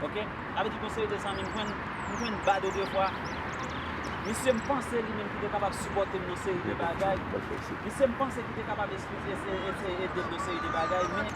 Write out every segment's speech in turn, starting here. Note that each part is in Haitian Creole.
Ok sa vle di gon seri de zanmi m jwenn m jwenn bad ou defwa misye m panse li menm ki te kapab sipòte m nan seri de bagay misye m panse ki te kapab eseye ede m nan seri de bagay men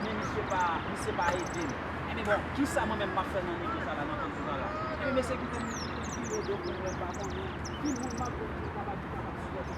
men misye pa misye pa ede m enben bon kisa mwen menm m ap fè nan nivo sa la nan kondiyon sa la enben mesye kite m kite m vire do pou m wè m pa konnen ki moun m ap jwenn ki kapab ki kapab sipòte m.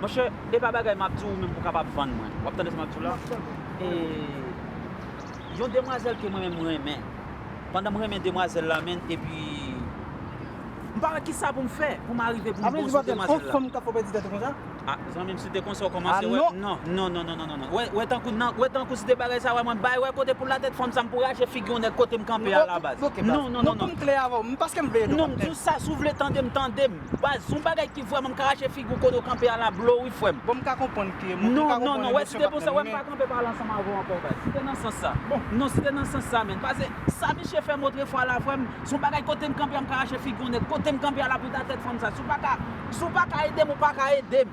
Monchè, e pa bagay m ap di w ou menm pou w kapab vann mwen. W ap tande sa m ap di w la? M ap tande w. E, yon demwazèl ke mwen menm m renmen, pandan m renmen demwazèl la menn, epi, m pa wè ki sa pou m fè pou m arive pou m bon sou demwazèl la. Anmweyy, se pa fanm k ap fè w pèdi tèt ou konsa? A, zanmi m, si te konsa ou kòmanse wè, non, non, non, non, non, wè, wè tankou nan, wè tankou si te bagay sa wè mwen bay, wè kote pou l la tèt fanm sa m pou rache figi yon nèg kote m kanpe a la baz. Non, non, non, non. Non, pou m klè avè w, m paske m vle ede w, kaptèn. Non, m di w sa, si w vle tande m, tande m. Baz yon bagay ki vrèman ka rache figi w kote w kanpe a la blow wi frè m. Bon m ka konprann ke m ka konprann emosyon pa t nan li men. Non si te nan sans sa menn. Pase sa misye fè m otrefwa la frè m son bagay kote m kanpe a m ka rache figi yon nèg kote m kanpe a la pou ta tèt fanm sa si w pa ka si w pa ka ede m ou pa ka ede m.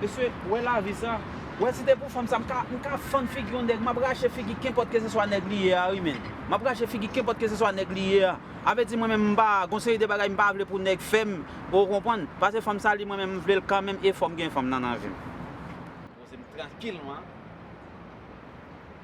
Mesye wè lavi sa. Wè si te pou fanm sa m ka m ka fann figi yon nèg map rache figi kenpòt ke se swa nèg li ye a wi menn. Map rache figi kenpòt ke se swa nèg li ye a. A vè di mwen menm m pa gon seri de bagay m pa vle pou nèg fè m ou konprann. Pase fanm sa li mwen menm m vle l kanmenm e fòm gen fanm nan nan vi m. Poze m trankilman.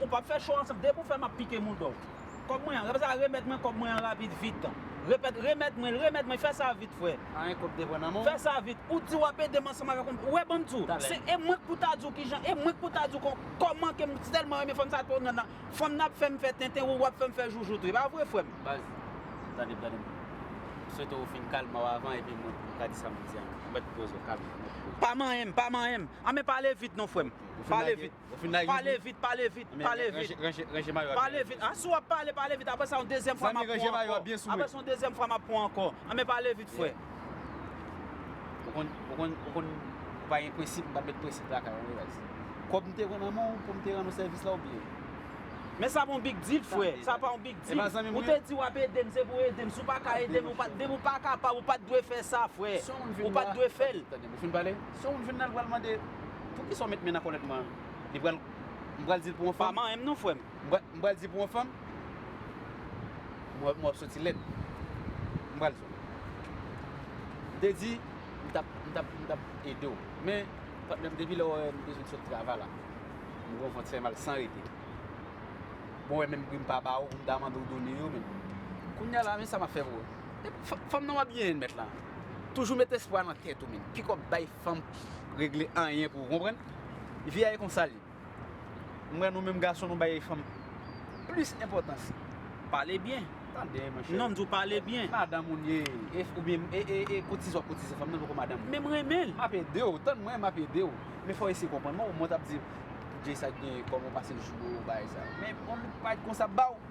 Ou pap fè cho ansanm. Depi ou fè map pike mouda w. Kòb mwen an. Repèt sa remèt mwen kòb mwen an rapid vit. Repèt remèt mwen l remèt mwen fè sa vit frè. Pa gen kòb devan nan men w. Fè sa vit. Ou di wap ede m ansanm avèk yon. Ou wè banm di w. Talè. Se e mwen k pou ta di w kijan e mwen k pou ta di w kòman ke m tèlman renmen fanm sa twò nan nan. Fanm nan ap fè m fè tenten wou wap fè m fè joujout wi. E pa vre frè m? Baz. Tande m tande m. M swete w fin kalme w avan epi mwen pou m ka di sa m vle di an. Ou mèt poze w kalme w mèt poze w. Pa manyen m pa manyen m. An men pale vit non frè m. Pale vit. Pale vit pale vit pale vit Pale vit a si wap pale pale vit aprè sa yon dezyèm fwa map pran ankò aprè sa yon dezyèm fwa map pran ankò anben pale vit frè Ou konn ou konn ou konn ou pa gen prensip m pa met prensip lakay ou anmweyy baz Kòb m te pran nan men w pou m te rann ou sèvis la ou bliye Men sa pa yon big deal frè sa pa yon big deal ou te di wap ede m se pou ede m si w paka ede m depi w pa kapab ou pat dwe fè sa frè ou pat dwe fè l Tande m ou fin pale? Sou wout vin nan li pral mande poukisa w met men nan kòlèt mwen an? Li pral, m pral di l pou yon fanm? Pa manyen m non frè m. M pral di pou yon fanm? Mwen wè w ap soti lèd. M pral di w. M te di m t ap, m t ap, m t ap ede w. Men, patnè m depi lè w wè m bezwen sot travay la, m gen yon vant fè mal san rete. Bon wè menm pri m pa ba w, m ta mande w done yo menm. Kounye a la men sa m ap fè pou ou. Fanm nan wap byen yn mèt la. Toujou met espwa nan tèt ou menn. Piko bay fanm regle anyen pou ou konprann. Vi a e konsa li. M wè nou menm gason nou bay fanm plis enpotans. Pale byen. Tande mwen cheri. Non m di w pale byen. Madanm ou m ye. Oubyen e kotize wap kotize fanm nan poko madanm mwen. Men m renmen l. Map ede w. Tann mwen map ede w. Men fò w eseye konprann mwen. Mwen tap di w. Jay sa gen koman w pase l sou ou bay sa. Men on nèg pa konsa ap ba w.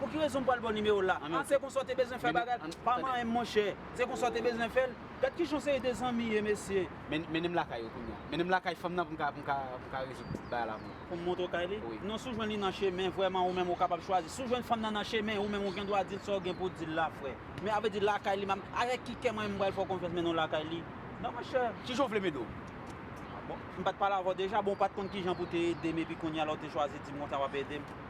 Pou ki rezon m pral baw nimewo la ah se konsa w te bezwen fè bagay la pa manyenm monchè se konsa w te bezwen fèl gad kijan yon seri de zanmi ye mesye. Mennen m lakay yo kounya. Mennen m lakay fanm nan pou m ka rezoud tout bagay la pou ou. Pou m montre w kay li? Non si w jwenn li nan chemen vrèman ou menm ou kapab chwazi. Si w jwenn fanm nan nan chemen ou menm ou gen dwa di l sa w gen pou w di l la frè. Men avè di lakay li map avèk ki kè mwen menm m pral fè w konfyans mennen w lakay li nan monchè. Kijan w vle m ede w? Ah bon? M pat pale avè w deja? Bon ou pat konn kijan pou w te ede m epi kounya la w te chwazi di m konsa wap ede m?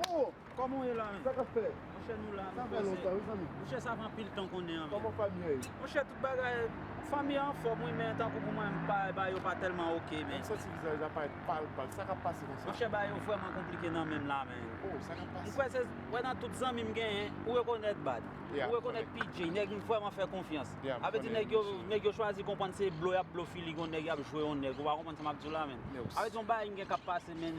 Freo koman w ye la menm? Sa kap fè? Monchè nou la nou poze. Sa fè lontan wi zanmi. Monchè sa fè anpil tan konnen an menm. Koman fanmi an ye? Monchè tout bagay, fanmi an anfòm wi men tankou pou mwen m pa ba yo pa tèlman ok men. M santi vizaj la parèt pal pal, sa kap pase konsa? Monchè bagay yo vrèman konplike nan menm la men. Oh sa kap pase? M kwè se, wè nan tout zanmi m genyen, ou rekonèt Bad, ou rekonèt PJ, nèg m vrèman fè konfyans. A vle di nèg yo, nèg yo chwazi konprann se blo yap blo fili gon nèg yap jwe on nèg ou pa konprann sa map di w la menm. A vle di yon bagay m gen kap pase menn.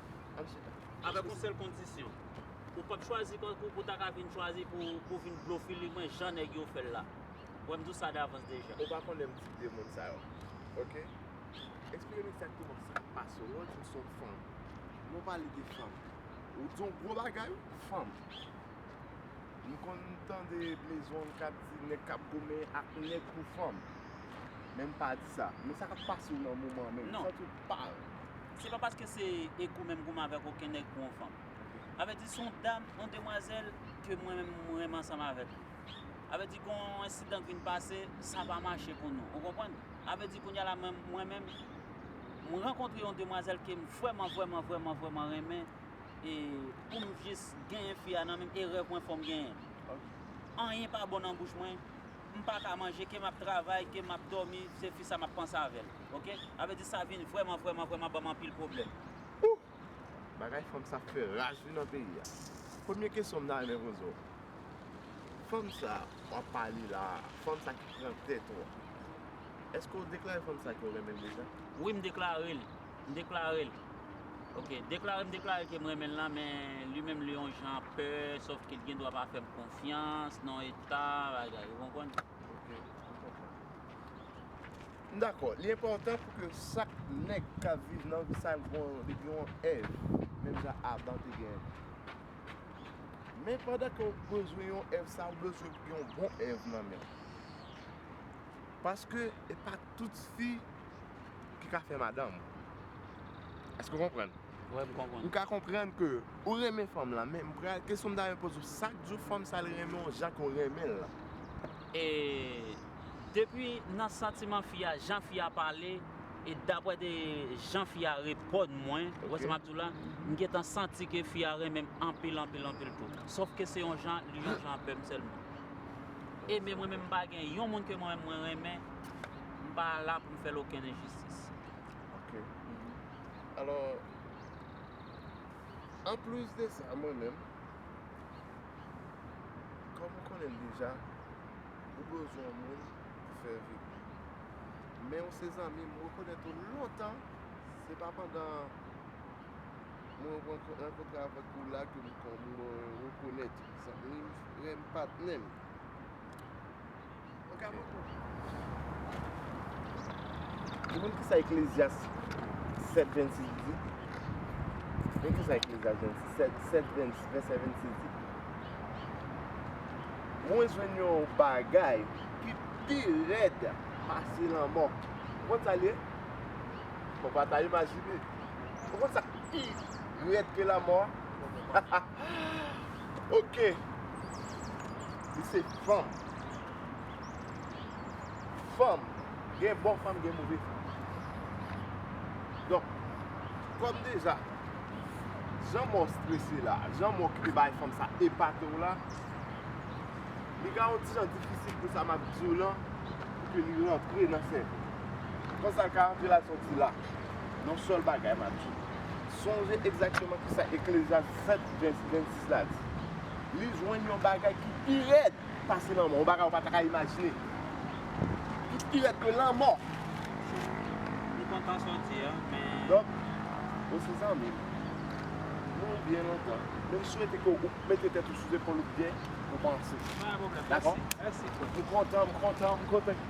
Avèk yon sèl kondisyon. Ou pap chwazi kankou pou ta ka vin chwazi pou vin blofile mwen jan nèg yo fèl la. Wè m di w sa davans deja. Ou pa konnen tip de moun sa yo. Ok. Eksplike m egzakteman sa k pase w lè w di m s on fanm. Lè w pale de fanm. Ou di yon gwo bagay wi. Fanm. M konn tande mezon k ap di nèg k ap goumen ak nèg pou fanm. Men m pa di sa. Men sa k ap pase w nan moman an menm. Ou santi w pa. Se pa paske se e gou menm gou m avèk oken nèg pou yon fanm. A vle di se yon dam, yon demwazèl ke mwen menm mwen renmen ansanm avèk li. A vle di gen yon ensidan k vin pase, sa pa mache pou nou. Ou konprann? A vle di kounya la mwen mwen menm m rankontre yon demwazèl ke m vrèman vrèman vrèman vrèman renmen e pou m jis genyen fi a nan men m e rèv mwen fò m genyen l. Anyen pa bon nan bouch mwen. M paka manje ke map travay ke map domi se fi sa map panse avèl ok sa vle di sa vin vrèman vrèman vrèman banm anpil pwoblèm. Ooh! Bagay fanm sa fè raj wi nan peyi a. Premye kesyon m ta renmen poze w. Fanm sa wap pale la, fanm sa ki pran tèt ou an, èske w deklare fanm sa ke w renmen l deja? Wi m deklare l. M deklare l Ok deklare m deklare l ke m renmen l lan men li menm li yon jan pè sof ke li gen dwa pa fè m konfyans nan eta bagay ou konprann. Ok m konprann. M dakò li enpòtan pou ke chak nèg k ap viv nan vi sa l gen yon li gen yon èv menm jan Adan te gen men pandan ke w bezwen yon èv sa ou bezwen gen yon bon èv nan men w paske e pa Tout fi ki ka fè madanm. Eske ou konprann? Wi m konprann. Ou ka konprann ke ou renmen fanm lan men kesyon m ta renmen poze w sak di w fanm sa li renmen w jan ke w renmen l lan? E depi nan santiman fi a, jan fi a pale e daprè de jan fi a reponn mwen, ou wè sa m ap di w la, m gentan santi ke fi a renmen m anpil anpil anpil tou. Sof ke se yon jan, li yon jan avè m sèlman. Aimé mwen menm pa gen yon moun ke mwen menm mwen renmen m pa la pou m fè l okenn enjistis. Ok alò an plis de sa mwen menm kòm ou konnen l deja ou bezwen yon moun pou fè vip men ou se zanmi m rekonèt ou lontan se pa pandan mwen rankontre avèk ou la ke m rekonèt ou. Zanmim frem patnem. Ou ka moto. Ou konn kisa eklezyas 7 26 di? Men kisa eklezyas 7 26 di. Mwen jwenn yon bagay ki pi red pase lanmò. Ou konn sa li ye? Fok ou pa ta imajine. Ou konn sa ki pi red ke lanmò? Ok. Li se fanm. Fanm. Gen bon fanm, gen move fanm. Donk, kòm deja, jan mò strese la, jan mò ki te bay fanm sa epate w la, li ka yon ti jan difisil pou sa m ap di w lan, pou ke li rantre nan sèvo w. Konsa l ka rantre l al sòti la. yon sèl bagay m ap di nou. Sonje egzakteman ki sa Eklezyas 7 vèsè 26 la di, Li jwenn yon bagay ki pi rèd pase lanmò, yon bagay ou pa ta ka imajine, ki pi rèd ke lanmò. Li kontan soti a, men. Donk, ou se zanmi m. Nou byen lontan. Men m swete ke ou mete tèt ou sou zepòl ou byen, ou panse. Pa gen pwoblèm. Dakò? Mèsi. Mèsi. M kontan, m kontan, m kontan.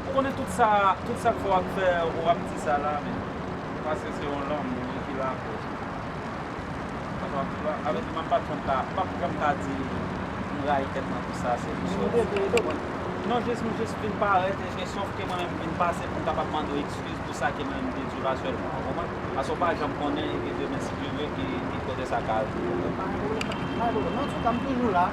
Ou konnen tout sa tout sak fè wap fè ou ap di sa la men paske se yon lanmou wi ki lakòz ou fè sa wap fè la avèk li mwen pap janm ka pap janm ka di m rayi tèt mwen pou sa se jis yon defo ou konprann non jis m jis vin parèt e se sof ke mwen menm m vin pase pou m kapab mande w ekskiz pou sa ke mwen menm m te di w asyèlman ou konprann paske ou pa janm konnen e ke demen si Dye vle ki kote sa ka rive ou konprann. Alò antouka m toujou la.